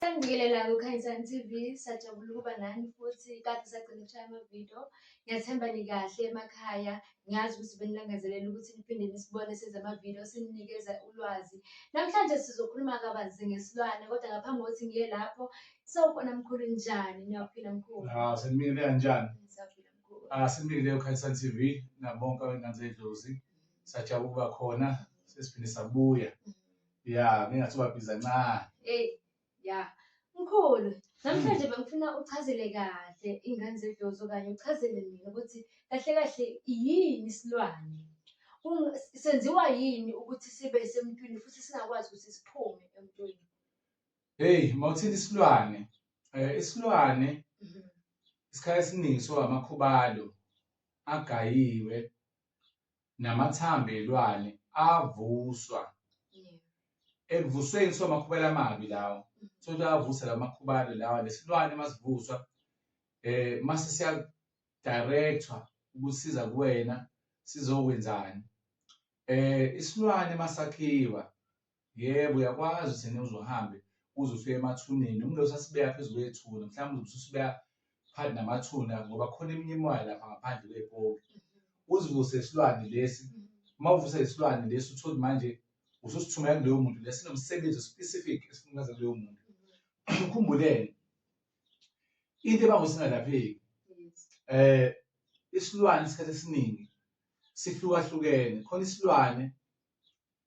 Sanibingelela kuKhanyisani TV, sajabula ukuba nani futhi kade sagcina ukushaya amavidiyo. Ngiyathemba nikahle emakhaya, ngiyazi ukuthi benilangazelela ukuthi niphinde nisibone senza amavidiyo sininikeza ulwazi. Namhlanje sizokhuluma kabanzi ngesilwane kodwa ngaphambi kokuthi ngiye lapho, sawubona mkhulu njani? Niyaphila mkhulu? Hawu, senibingelela kanjani? Ngisaphila mkhulu. Ah, senibingelela kuKhanyisani TV nabonke abengane zedlozi. Sajabula ukuba khona, sesiphinde sabuya. ya ngingathi ubabhiza ncane Hey, ya. Mkhulu, namhlanje bengifuna uchazele kahle ingane zedlozi okanye uchazele mina ukuthi kahle kahle yini isilwane. Kung- Senziwa yini ukuthi sibe semntwini futhi singakwazi ukuthi siphume emntwini. heyi uma uthinta isilwane um isilwane Mhm. isikhathi esiningi so amakhubalo agayiwe namathambo elwane avuswa ekuvusweni kuthiwa amakhubalo amabi lawo so ukuthi avusa la makhubalo lawa lesilwane masivuswa eh mase siya director ukusiza kuwena sizokwenzani eh isilwane masakhiwa Yebo, uyakwazi thina uzohambe uze ufike emathuneni. Umlilo usasibeka phezu kwethuna, mhlawumbe ususibeka phakathi namathuna ngoba khona eminye imimoya lapha ngaphandle kwepoki. Mm-hmm. Uzivuse isilwane lesi, mm-hmm. uma uvuse isilwane lesi uthole manje ususithumela kuloyo muntu lesi nomsebenzi specific esifunikaza kuloyo muntu. Mm-hmm. Khumbuleni into ebangusingalapheki eh isilwane isikhathi esiningi sihlukahlukene khona isilwane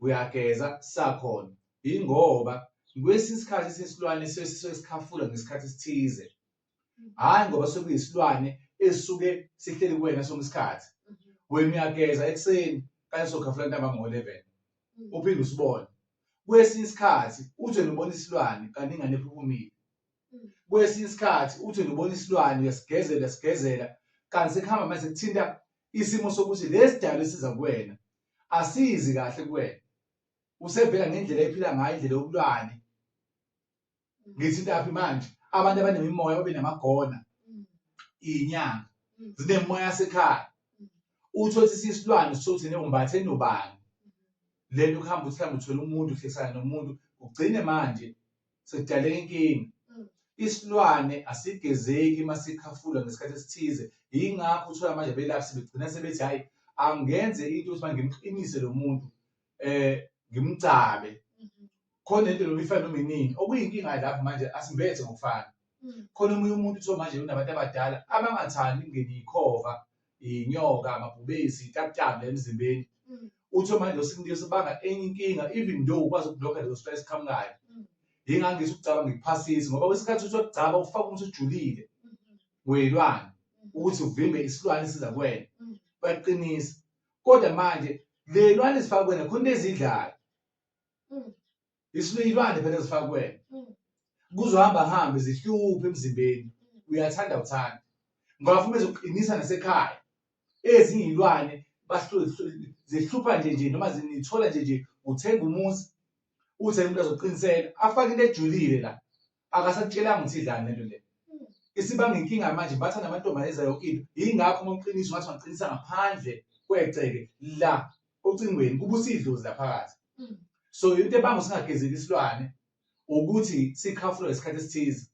uyageza sakhona yingoba kwesinye isikhathi sesilwane sesuke sikhafula ngesikhathi esithize hhayi ngoba sekuyisilwane esuke sihleli kuwena sonke isikhathi wena uyageza ekuseni kanye sokhafula ntambama ngo-eleven mm. uphinde usibone kwesinye isikhathi uthi nibona isilwane kanti ingane ephuphumile mm. kwesinye isikhathi uthi nibona isilwane uyasigezela uyasigezela kanti sekuhamba manje sekuthinta isimo sokuthi lesi dalo esiza kuwena asizi kahle kuwena usevela ngendlela ephila ngayo indlela yokulwane ngithi intaphi manje abantu abanemimoya babe namagona inyanga zinemoya sekhaya uthothi sisilwane sithothi neumbathe nobani lento kuhamba uthi hamba uthola umuntu uhlekisana nomuntu ugcine manje sekudale inkinga mm. isilwane asigezeki masikhafula ngesikhathi esithize yingakho uthola manje belaphi sebegcina sebethi hayi angenze into ukuthi ngimqinise lo muntu eh ngimgcabe mm-hmm. khona into noma ifana noma inini okuyinkinga lapho manje asimbethe ngokufana mm. khona omunye umuntu uthiwa manje unabantu abadala abangathandi ukungena ikhova inyoka amabhubesi itakutanga emzimbeni mm. uthe manje usinike sibanga enye inkinga even though ukwazi ukublocker leyo stress khamkayo mm. yingangisa ukucaba ngiphasisi ngoba kwesikhathi uthi ukugcaba ufaka umuntu ujulile mm-hmm. weyilwane mm-hmm. ukuthi uvimbe isilwane siza kwena mm. baqinisa kodwa manje lelwane zifaka kwena khona ezidlayo isiluyilwane phela ezifaka kuwena Mm. kuzohamba hambe zihluphe emzimbeni uyathanda uthanda ngoba futhi bezoqinisa nasekhaya ezinye iy'lwane bahlu- hlu- zihlupha nje nje noma zinithola nje nje uthenga umuzi uthi umuntu azoqinisela afake into ejulile la Akasakutshelanga ukuthi idlani lento le. Isibanga inkinga manje batha namantombazane ezayo yonke into. Yingakho uma uqinisa ungathi ungaqinisa ngaphandle kwegceke la ocingweni kubusa idlozi laphakathi. Mm. So into ebanga usingagezeki isilwane ukuthi sikhafulwe ngesikhathi esithize.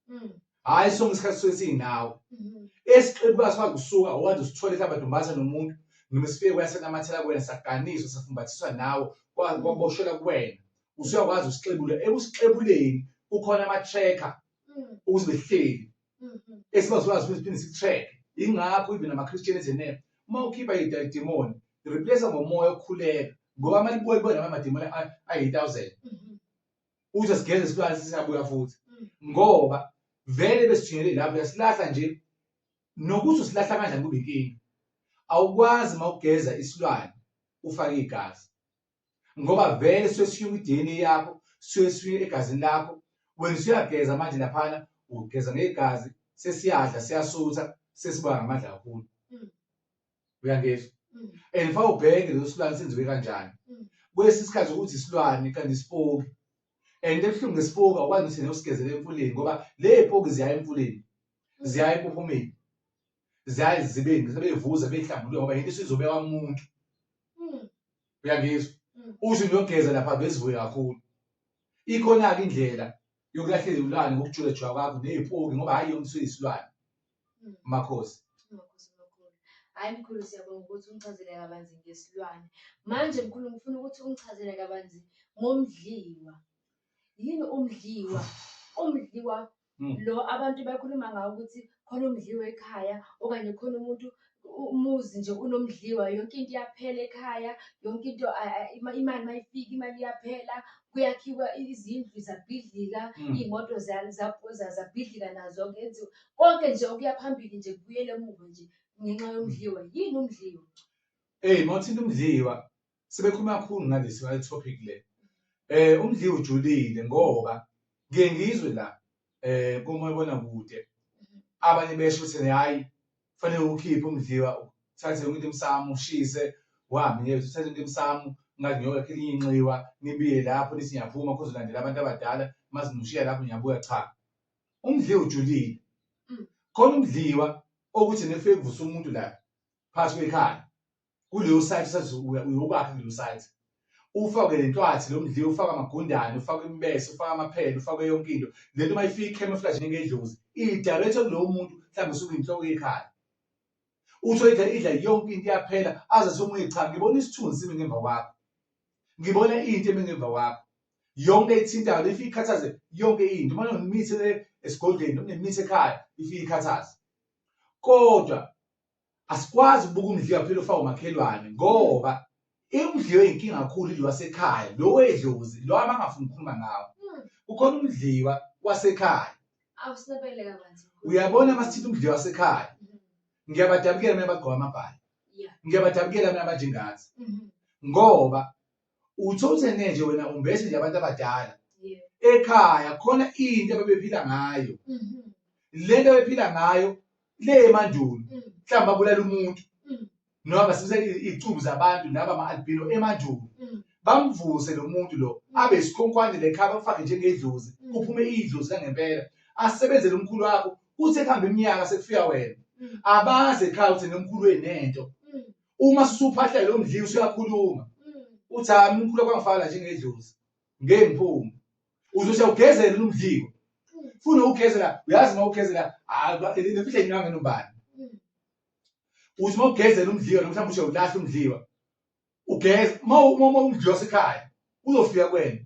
Mm. Hayi sonke isikhathi suke siyinawo. Mm-hmm. Esiqebukazi kwakusuka okade usithole mhlawumbe adombaza nomuntu noma sifike kwasenamathela kuwena saganiswa safumbathiswa nawo kwaboshela kuwena usuyakwazi ukusixebula ekusixebuleni kukhona ama-tracker mm. ukuthi behleli mm-hmm. esibazokwazi ukuthi siphinde si-track ingakho even ama-christian ezenele uma ukhipha idimoni replace ngomoya okukhuleka ngoba mali buye kubona amadimoni ayi-thousand mm-hmm. uze sigeze isilwane sisabuya futhi mm. ngoba vele besithunyele lapho uyasilahla nje nokuthi usilahla kanjani kube inkinga awukwazi uma ugeza isilwane ufake igazi ngoba vele suke sishiya kwi-DNA yakho suke sishiya egazini lakho wena usuyageza manje laphana ugeza ngegazi sesiyadla siyasutha sesiba ngamandla kakhulu mm. uyangezwa mm. and fa ubheke leso silwane senziwe kanjani mm. kwesi sikhathi ukuthi isilwane kanti isipoki and ebuhlungu ngesipoki awukwazi ukuthi nesigezele emfuleni ngoba le poki ziya emfuleni ziya ekuphumeni ziyaye zibe sebevuza behlambuluka ngoba yinto isizobeka umuntu Mm. uyangizwa Mm. usho niyogeza lapha bezivuye kakhulu ikhona-ke indlela yokulahlela izilwane ngokujulajula kwakho neyipoki ngoba hhayi yona isuke isilwane Mm. makhosi Makhosi makhulu. Hayi mkhulu siyabonga ukuthi ungichazele kabanzi ngesilwane. Manje mkhulu ngifuna ukuthi ungichazele kabanzi ngomdliwa. Yini umdliwa? Umdliwa Mm. lo abantu bakhuluma ngawo ukuthi khona umdliwa ekhaya okanye khona umuntu u- umuzi nje unomdliwa yonke into iyaphela ekhaya yonke into a- a- ima- imali mayifika imali iyaphela kuyakhiwa izindlu zabhidlika Mm. iy'moto za- za- za- zabhidlika nazo kenziwa konke nje okuya phambili nje kubuyele emuva nje ngenxa yomdliwa yini umdliwa Ey mawuthinta umdliwa sebekhuluma kakhulu ngalesi ngale topic le eh umdliwa ujulile ngoba ngiye ngizwe la eh komayibona kude abanye besho ukuthi hayi kufanele ukhiphe umdliwa uthathe yonke into emsamo ushise uhambe nje uthathe into emsamo ngathi ngiyokakhe elinye inxiwa nibiye lapho nithi ngiyaphuma khoze ulandela abantu abadala uma simushiya lapho ngiyabuya cha umdliwa ujulile Mm. khona umdliwa okuthi nefike kuvusa umuntu la phakathi kwekhaya kuleyo site usazobuya uyokwakha kuleyo site ufake le ntwathi lo mdliwa ufake amagundane ufake imbese ufake amaphela ufake yonke into le nto uma ifika i-camouflage ngengedlozi iyidirect kulowo muntu mhlawumbe usuke inhloko yekhaya usho idla idla yonke into iyaphela aze somunye cha ngibona isithunzi simi ngemva kwakho ngibona into emi ngemva kwakho yonke ethintayo le ifike ikhathaze yonke into uma nonemithi esigodlweni nonemithi ekhaya ifike ikhathaze kodwa Asikwazi ukubuka umdliwa kuphela ofaka umakhelwane ngoba umdliwa oyinkinga kakhulu idliwa wasekhaya lo wedlozi lo abangafuni ukukhuluma ngawo hmm. kukhona umdliwa wasekhaya uyabona masithinta umdliwa wasekhaya hmm. ngiyabadabukela mina abagqoka amabhayi ngiyabadabukela mina abanjengathi hmm. ngoba uthi uthenge nje wena umbese nje abantu abadala ekhaya khona into ababephila ngayo mhm. lento abephila ngayo le emandulo mm. mhlawumbe babulala umuntu mm. noma basebenzisa izicubu zabantu laba ama-albino emandulo mm. bamvuse lo muntu lo abe isikhonkhwane lekhaya bamfake njengedlozi kuphume idlozi langempela asebenzele umkhulu wakho kuthi ekuhamba iminyaka sekufika wena abazi ekhaya ukuthi nomkhulu wenento uma susuphahla lo mdlini usuyakhuluma uthi hhayi umkhulu kwangifana njengedlozi ngeke ngiphume uzothi awugezele umdliwo funa ukugezela uyazi uma ugezela nemfihle nginyanga nobani uthi uma ugezela umdliwa noma mhlawumbe ushe ulahla umdliwa ugeze uma umdliwa sekhaya uzofika kwena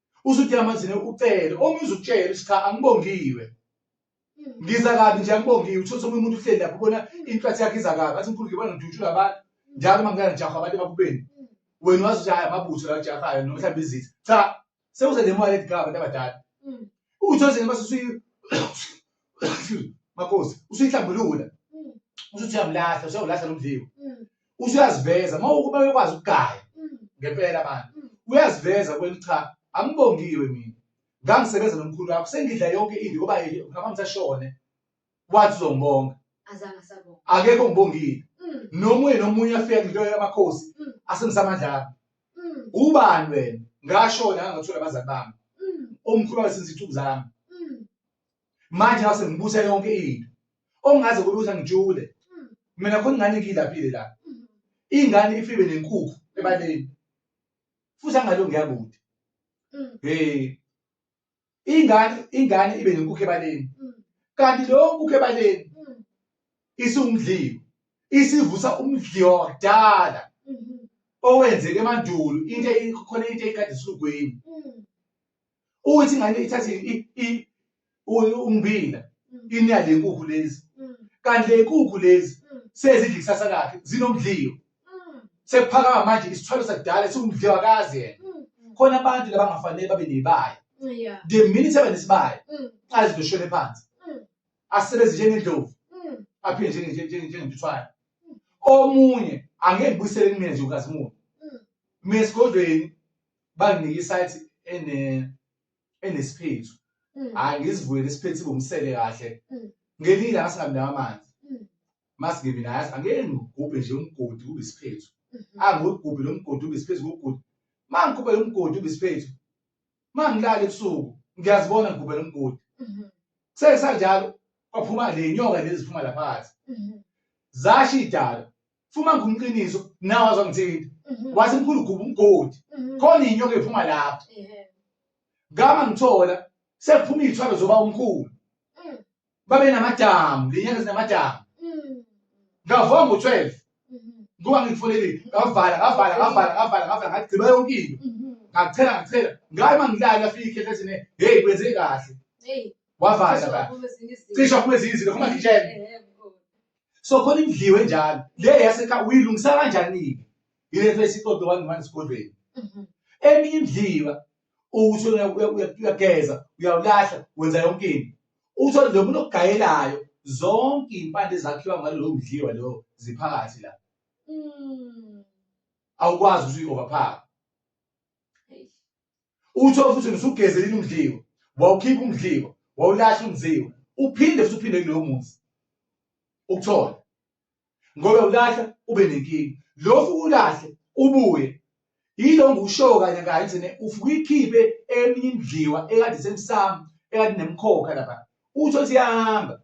usuthi yamazine ucele omunye uzukutshela ukuthi cha angibongiwe ngiza kabi nje angibongiwe uthole omunye umuntu uhleli lapho ubona inhlathi yakhe iza kabi athi mkhulu ngibona ngidutshula abantu njalo uma ngingana ngijaha abantu ebakubeni wena wazi ukuthi hayi amabutho la ajahayo noma mhlawumbe izitha cha sewuze le moya ledigaba abantu abadala Mm. uthole nje mase usuyi makhosi usuyihlambulula Mm. usuthi uyamlahla usuyawulahla nomdliwa Mm. usuyaziveza uma ukuba bekwazi ukugaya mm. ngempela abantu mm. uyaziveza kweli cha angibongiwe mina ngangisebenza nomkhulu wakho sengidla yonke into ngoba ngaba ngisashone wathi uzongibonga azange sabonga akekho ngibongile mm. nomunye nomunye afika ngilo yamakhosi asengisamandla ubani wena ngashona ngangathola abazali bami omkhulu wabe senzithuku zami manje ngase ngibusa yonke into ongaze kube ukuthi angijule hmm. mina khona ingane ngiyilaphile la hmm. ingane ifibe nenkukhu ebaleni futhi angalo ngiyakude hmm. hey ingane ingane ibe nenkukhu ebaleni kanti lo nkukhu ebaleni isumdliwa isivusa umdliwa wakudala owenzeke emandulo into khona into eyikade isilugwini ukuthi ingane ithathe ummbila mm. inya le nkukhu lezi mm. kanti le nkukhu lezi mm. sezidla ikusasa lakhe zinomdliyo sekuphakama manje isithwalo sakudala siwumdliwa kazi yena khona abantu labangafanele babe nebaya the minute abe nesibaya azinto shwele phansi asebenze njengendlovu aphinde njengentuthwane omunye angeke ngibuyisele kumina nje ukazimuka mina esigodlweni banginika isayithi ene enesiphethu mm. hayi ngizivulele isiphethu ibumsele kahle mm. ngelinye ilanga singamnaka amanzi mm. masingebi naye athi angeke ngigubhe nje umgodi kube isiphethu mm-hmm. angigubhe lo mgodi ube isiphethu ngugudi ma ngigubhe lo mgodi ube isiphethu ma ngilale ebusuku ngiyazibona ngigubhe lo mgodi mm-hmm. kusesanjalo kwaphuma le nyoka lezi ziphuma laphakathi mm-hmm. zasho idala Fuma ngumqiniso nawe azongithinta. Mhm. Wathi mkhulu gubu umgodi. Mhm. Khona inyoka ephuma lapho. Ehhe. Ngama ngithola sekuphuma izithwalo zoba umkhulu. Mm. Babe namadamu, lenyanga zinamadamu. Mm. Ngavoma ngo-12 Mhm. ngoba ngifonele ngavala ngavala ngavala ngavala ngavala ngagqiba yonke into. Mhm. Ngachela ngachela ngaye mangilala afike ikhehle sine hey kwenze kahle. Hey. Wavala Cishe ba. waphuma ezinye izinto. Cishe aphuma ezinye izinto khoma ngitshele. Ehhe, mkhulu. so khona imdliwe njalo le yasekhaya uyilungisa kanjani-ke yile face ixoxe one-one esigodlweni Mhm. eminye imdliwa uthi uya- uya- uya- uyageza uyawulahla wenza yonke into uthole lo muntu okugayelayo zonke iy'mpande zakhiwa ngalowo mdliwa lo ziphakathi la Mm. awukwazi ukuthi uyi-overphaka Eish. utho futhi usugezelile umdliwa wawukhipha umdliwa wawulahla umdliwa uphinde futhi uphinde kulowo muzi ukuthola ngoba ulahla ube nenkinga lokhu ulahle ubuye yilo ngiwushoyo kanye kanye thina ufuke uyikhiphe eminye imidliwa ekade semsamo ekade nemkhokha lapha uthi othi iyahamba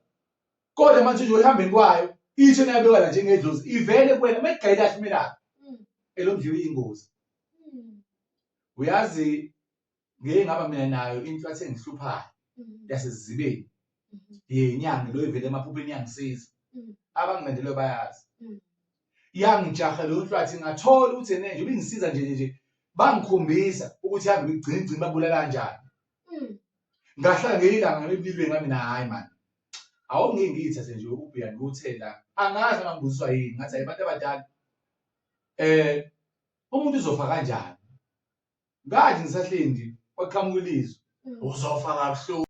kodwa manje nje olihambeni kwayo isho nayabekwa la njengedlozi ivele kuwena uma igayile ahlumelayo hmm. elomdliwa iyingozi hmm. uyazi ngeke ngaba mina nayo into athe ngihluphayo mm-hmm. yasezibeni mm-hmm. yenyanga lo ivele emaphupheni yangisiza mm-hmm. abangilandelwe bayazi yangijaha leyo nhlwathi ngathola ukuthi ene nje ubingisiza nje nje bangikhombisa ukuthi hambe igcina igcina babulala kanjani mm. ngahlala ngeyilanga ngebilweni ngami na hayi mani awungeke ngiyithathe nje ukubheka ngikuthela angazi angangibuziswa yini ngathi abantu abadala eh umuntu uzofa kanjani ngathi ngisahlindi kwaqhamuka ilizwi uzofa kabuhlungu